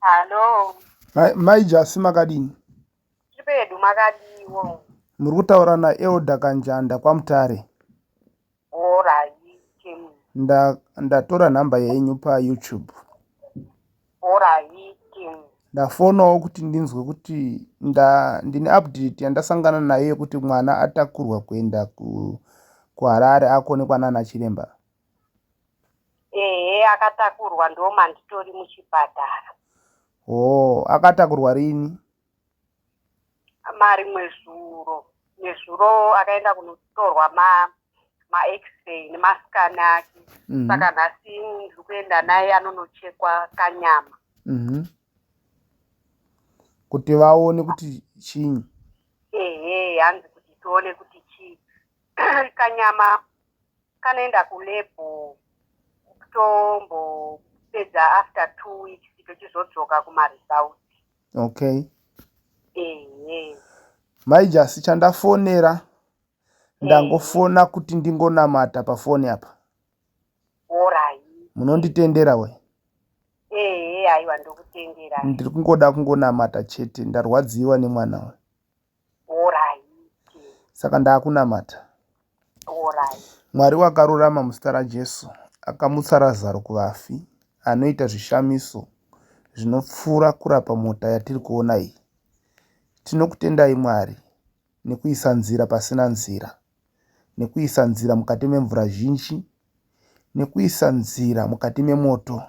Hello. Mai, mai Jasi makadini? Tiri pedu makadiwo. Muri kutaura na Elder Kanjanda kwaMutare. Alright. Nda ndatora nhamba yenyu pa YouTube. Alright. Ndafonawo kuti ndinzwe kuti nda ndine update yandasangana nayo yekuti mwana atakurwa kuenda ku kuHarare akonekwa nana chiremba. Ehe akatakurwa ndomanditori muchipatara. Hoo akatakurwa rini? Marimwe zuro. Nezuro akaenda kunotorwa ma max-ray nemascan ake. Mhm. Saka nhasi ndiri kuenda naye anonochekwa kanyama. Mhm. Kuti vaone kuti chinyi. Ehe hanzi kuti tione kuti chii. kanyama kanoenda kulebhu kutombopedza after two weeks tochizodzoka kumaresults okay ehe mai jasi chandafonera ndangofona kuti ndingonamata pafoni apa orai munonditendera we ehe aiwa ndokutendera ndiri kungoda kungonamata chete ndarwadziwa nemwana we saka ndaakunamata mwari wakarurama muzita rajesu akamutsa razaro kuvafi anoita zvishamiso zvinopfuura kurapa mota yatiri kuona iyi tinokutendai mwari nekuisa nzira pasina nzira nekuisa nzira mukati memvura zhinji nekuisa nzira mukati memoto.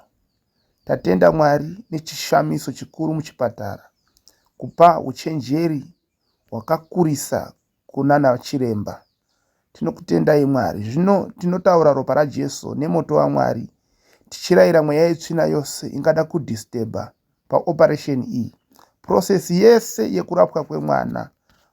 Tatenda Mwari nechishamiso chikuru muchipatara kupa uchenjeri hwakakurisa kunana chiremba. Tinokutendai Mwari. Zvino tinotaura ropa raJesu nemoto waMwari tichirayira mweya yetsvina yose ingada kudhistebha paoperation iyi process yese yekurapwa kwemwana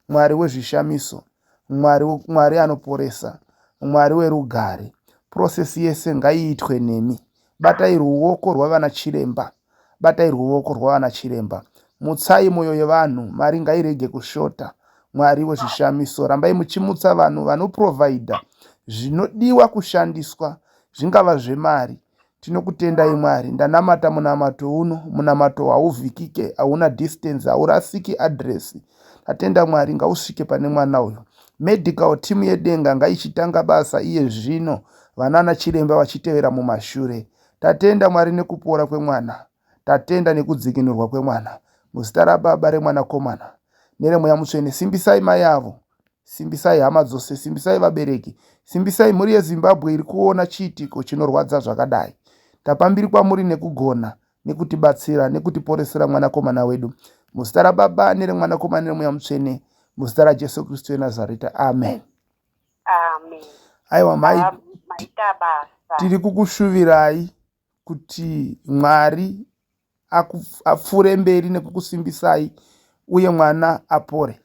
mwari wezvishamiso mwari mwari anoporesa mwari werugare process yese ngaiitwe nemi batai ruoko rwavana chiremba batai ruoko rwavana chiremba mutsai mwoyo yevanhu mari ngairege kushota mwari wezvishamiso rambai muchimutsa vanhu vanoprovhaidha zvinodiwa kushandiswa zvingava zvemari Tinokutendai Mwari ndanamata munamato uno munamato hauvhikike hauna distance haurasiki address ndatenda Mwari ngausvike pane mwana uyo medical team yedenga ngaichitanga basa iye zvino vanana chiremba vachitevera mumashure tatenda Mwari nekupora kwemwana Tatenda nekudzikinurwa kwemwana. Muzita raBaba, reMwanakomana, nereMweya Mutsvene. Simbisai mai avo. Simbisai hama dzose. Simbisai vabereki. Simbisai mhuri yeZimbabwe iri kuona chiitiko chinorwadza zvakadai. Tapa mbiri kwamuri nekugona, nekutibatsira, nekutiporesera mwanakomana wedu. Muzita raBaba, nereMwanakomana, nereMweya Mutsvene. Muzita raJesu Kristu weNazareta. Amen. Amen. Aiwa mai, Maita basa. tiri kukushuvirai. kuti Mwari apfuure mberi nekukusimbisai uye mwana apore.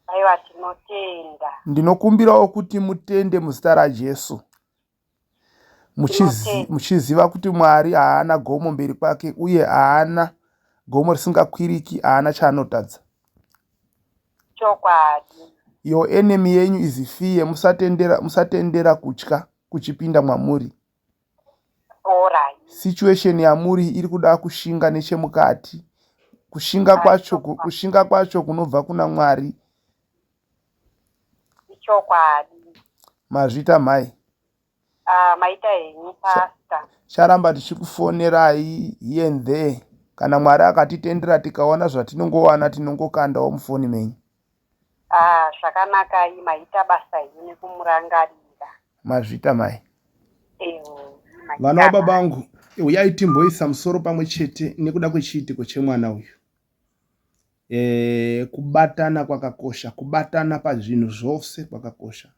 Aiwa tinotenda. Ndinokumbirawo kuti mutende muzita raJesu. Muchiziva kuti Mwari haana gomo mberi kwake uye haana gomo risingakwiriki haana chaanotadza. Chokwadi. Your enemy yenyu is fear musatendera musatendera kutya kuchipinda mwamuri. borai situation yamuri iri kuda kushinga nechemukati kushinga kwacho kushinga kwacho kunobva kuna mwari ichokwadi mazvita mhai ah, maita henyu pasta charamba tichikufonerai here and there kana mwari akatitendera tikaona zvatinongowana tinongokandawo mufoni menyu Ah, zvakanakai maita basa hini kumurangarira. Mazvita mai. Ewo. Vana wababa wangu uyai timboisa musoro pamwe chete nekuda kwechiitiko chemwana uyu. E, kubatana kwakakosha, kubatana pazvinhu zvose kwakakosha.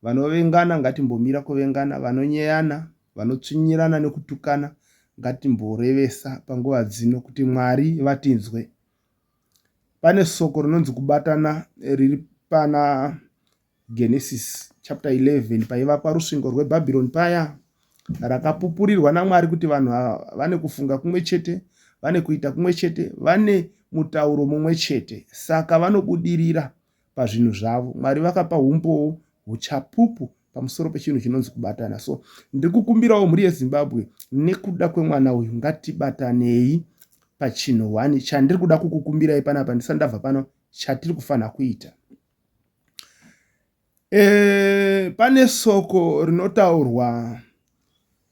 Vanovengana ngatimbomira kuvengana, vanonyeyana, vanotsvinyirana nekutukana ngatimborevesa panguva dzino kuti Mwari vatinzwe. Pane soko rinonzi kubatana riri pana Genesis chapter 11 paivakwa rusvingo rweBhabhironi paya rakapupurirwa naMwari kuti vanhu vane kufunga kumwe chete, vane kuita kumwe chete, vane mutauro mumwe chete. Saka vanobudirira pazvinhu zvavo mwari vakapa humbowo huchapupu pamusoro pechinhu chinonzi kubatana so ndiri kukumbirawo mhuri yezimbabwe nekuda kwemwana uyu ngatibatanei pachinhu one chandiri kuda kukukumbirai panapa ndisati ndabva pano chatiri kufanira kuita e, pane soko rinotaurwa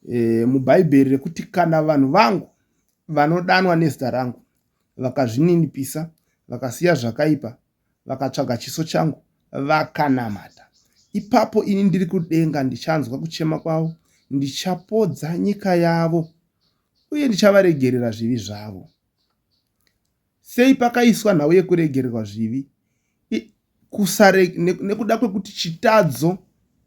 e, mubhaibheri rekuti kana vanhu vangu vanodanwa nezita rangu vakazvininipisa vakasiya zvakaipa vakatsvaga chiso changu vakanamata. Ipapo ini ndiri kudenga ndichanzwa kuchema kwavo, ndichapodza nyika yavo uye ndichavaregerera zvivi zvavo. Sei pakaiswa nhau yekuregererwa zvivi? Kusare, nekuda kwekuti chitadzo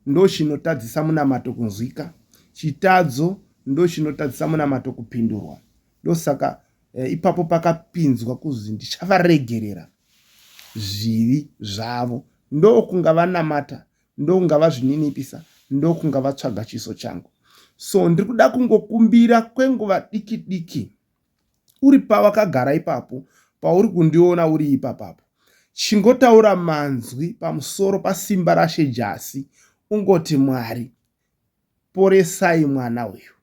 ndochinotadzisa munamato kunzwika, chitadzo ndochinotadzisa munamato kupindurwa. ndosaka eh, ipapo pakapinzwa kuzi ndichavaregerera zvivi zvavo ndokunga vanamata ndokunga vazvininipisa ndokunga vatsvaga chiso changu so ndiri kuda kungokumbira kwenguva diki diki uri pawakagara ipapo pauri kundiona uri ipapapo chingotaura manzwi pamusoro pasimba rashe jasi ungoti mwari poresai mwana uyu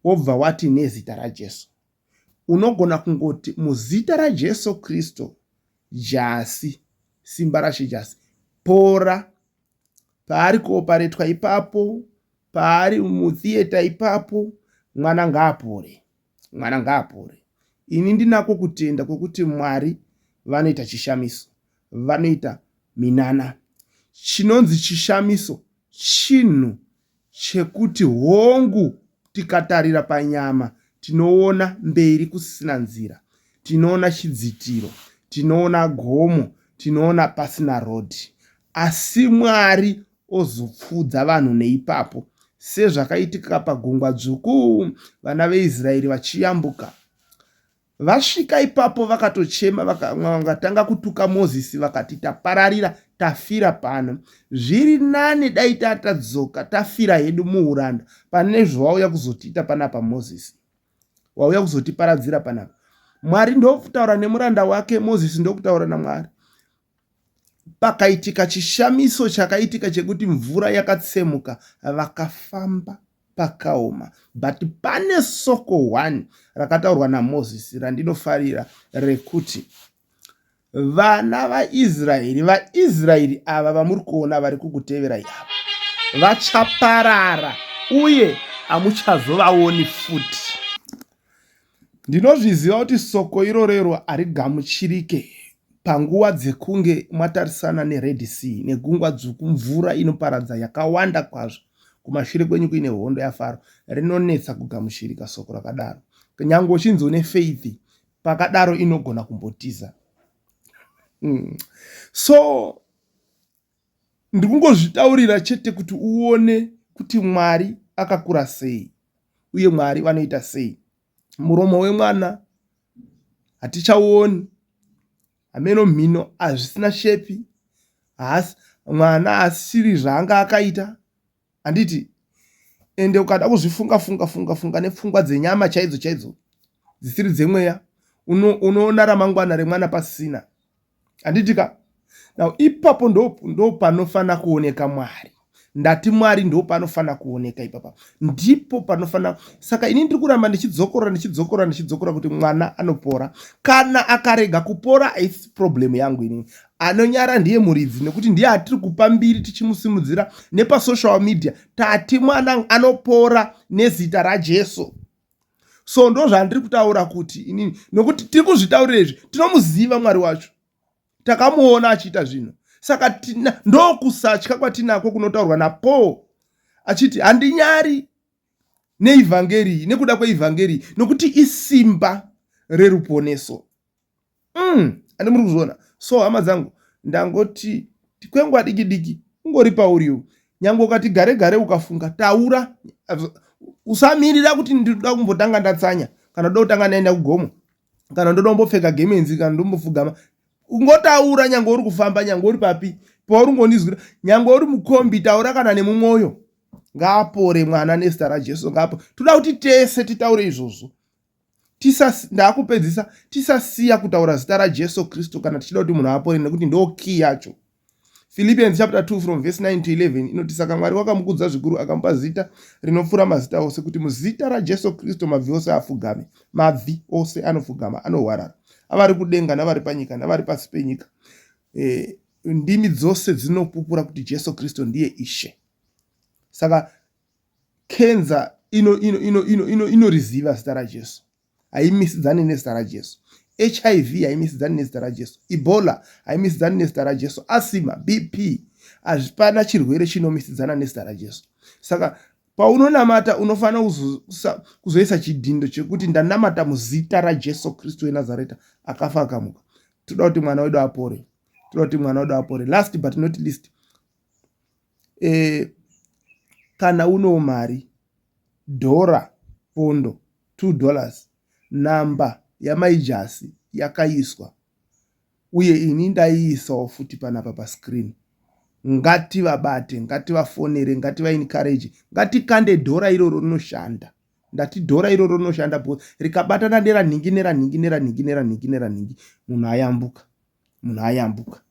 wobva wati nezita raJesu. Unogona kungoti muzita raJesu Kristu jasi, simba raShe jasi, pora paari kuoparetwa ipapo, paari mutheatre ipapo, mwana ngaapore, mwana ngaapore. Ini ndinako kutenda kwekuti Mwari vanoita chishamiso, vanoita minana. Chinonzi chishamiso chinhu chekuti hongu tikatarira panyama tinoona mberi kusisina nzira, tinoona chidzitiro, tinoona gomo, tinoona pasina road asi Mwari ozopfuudza vanhu neipapo sezvakaitika pagungwa dzvuku vana veIsraeri vachiyambuka Vasvika ipapo vakatochema vakatanga kutuka Mozisi vakati, Tapararira, tafira pano. Zviri nani dai tatadzoka tafira hedu muuranda pane zvawauya kuzotiita panapa Mozisi. Wauya kuzotiparadzira panapa. Mwari ndokutaura nemuranda wake Mozisi ndokutaura naMwari. pakaitika chishamiso chakaitika chekuti mvura yakatsemuka vakafamba pakaoma but pane soko one rakataurwa namozisi randinofarira rekuti vana vaisraeri vaisraeri ava vamuri kuona vari kukuteverai ava vachaparara uye hamuchazovaoni futi Ndinozviziva kuti soko irorero harigamuchirike panguva dzekunge mwatarisana neRed Sea neGungwa Dzvuku, mvura inoparadza yakawanda kwazvo kumashure kwenyu kuine hondo yaFaro. Rinonetsa kugamuchirika soko rakadaro. Kunyange uchinzi une faith, pakadaro inogona kumbotiza. Mm. So Ndikungozvitaurira chete kuti uone kuti Mwari akakura sei uye Mwari vanoita sei. Muromo wemwana hatichauoni, hameno mhino hazvisina shepi, haasi mwana haasisiri zvaanga akaita, handiti ende ukada kuzvifunga funga funga funga nepfungwa dzenyama chaidzo chaidzo dzisiri dzemweya unoona ramangwana remwana pasina handitika now ipapo ndopanofanira kuoneka mwari ndati mwari ndopanofanira kuoneka ipapa ndipo panofanira saka ini ndiri kuramba ndichidzokorora ndichidzokorora ndichidzokorora kuti mwana anopora kana akarega kupora haisi problem yangu ini anonyara ndiye muridzi nekuti ndiye atiri kupa mbiri tichimusimudzira nepasocial media tati mwana anopora nezita rajesu so ndo zvandiri kutaura kuti inini nokuti tiri kuzvitaurira izvi tinomuziva mwari wacho takamuona achiita zvinhu saka tina ndokusatya kwatinako kunotaurwa napaul achiti handinyari neivhangeri nekuda kweivhangeri nokuti isimba reruponeso umm and muri kuzviona so hama dzangu ndangoti tikwengwa diki diki ungori pauri uyu nyange ukati gare gare ukafunga taura usamirira kuti ndinoda kumbotanga ndatsanya kana ndoda kutanga ndaenda kugomo kana ndoda kumbopfeka gemenzi kana ndombofugama ungotaura nyange uri kufamba nyange uri papi pauri ungondizwira nyange uri mukombi taura kana nemumwoyo ngaapore mwana nezita rajesu ngaapo toda kuti tese titaure izvozvo ndakupedzisa tisasiya kutaura zita rajesu kristu kana tichida kuti munhu apore nekuti ndo key yacho philippians chapter 2 from verse 9 to 11 inoti saka mwari wakamukudza zvikuru akamupa zita rinopfuura mazita ose kuti muzita rajesu kristu mabvi ose afugame mabvi ose anofugama anohwarara avari kudenga navari panyika navari pasi penyika e, ndimi dzose dzinopupura kuti jesu kristu ndiye ishe saka Kenza inoriziva zita raJesu, haimisidzani nezita raJesu. HIV haimisidzani nezita raJesu. Ebola haimisidzani nezita raJesu. Asima, BP, hazvipana chirwere chinomisidzana nezita raJesu. Saka paunonamata unofanira kuzoisa chidhindo chekuti ndanamata muzita raJesu Kristu weNazareta akafa akamuka. Toda kuti mwana wedu apore. Toda kuti mwana wedu apore. Last but not least, Kana unewo mari dhora, pondo, two dollars number yamai Jasi yakaiswa uye ini ndaiisawo futi panapa pa screen. Ngativabate, ngativafonere, ngativa encourage, ngatikande dhora iroro rinoshanda. Ndati dhora iroro rinoshanda because rikabatana neranhingi neranhingi neranhingi neranhingi neranhingi munhu ayambuka. munhu ayambuka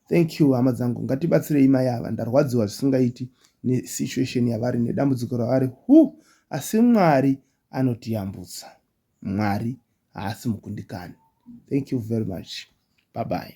thank you hama dzangu ngatibatsirei mai ava ndarwadziwa zvisingaiti nesituation yavari nedambudziko ravari hu asi mwari anotiyambutsa mwari haasi mukundikani thank you very much bye bye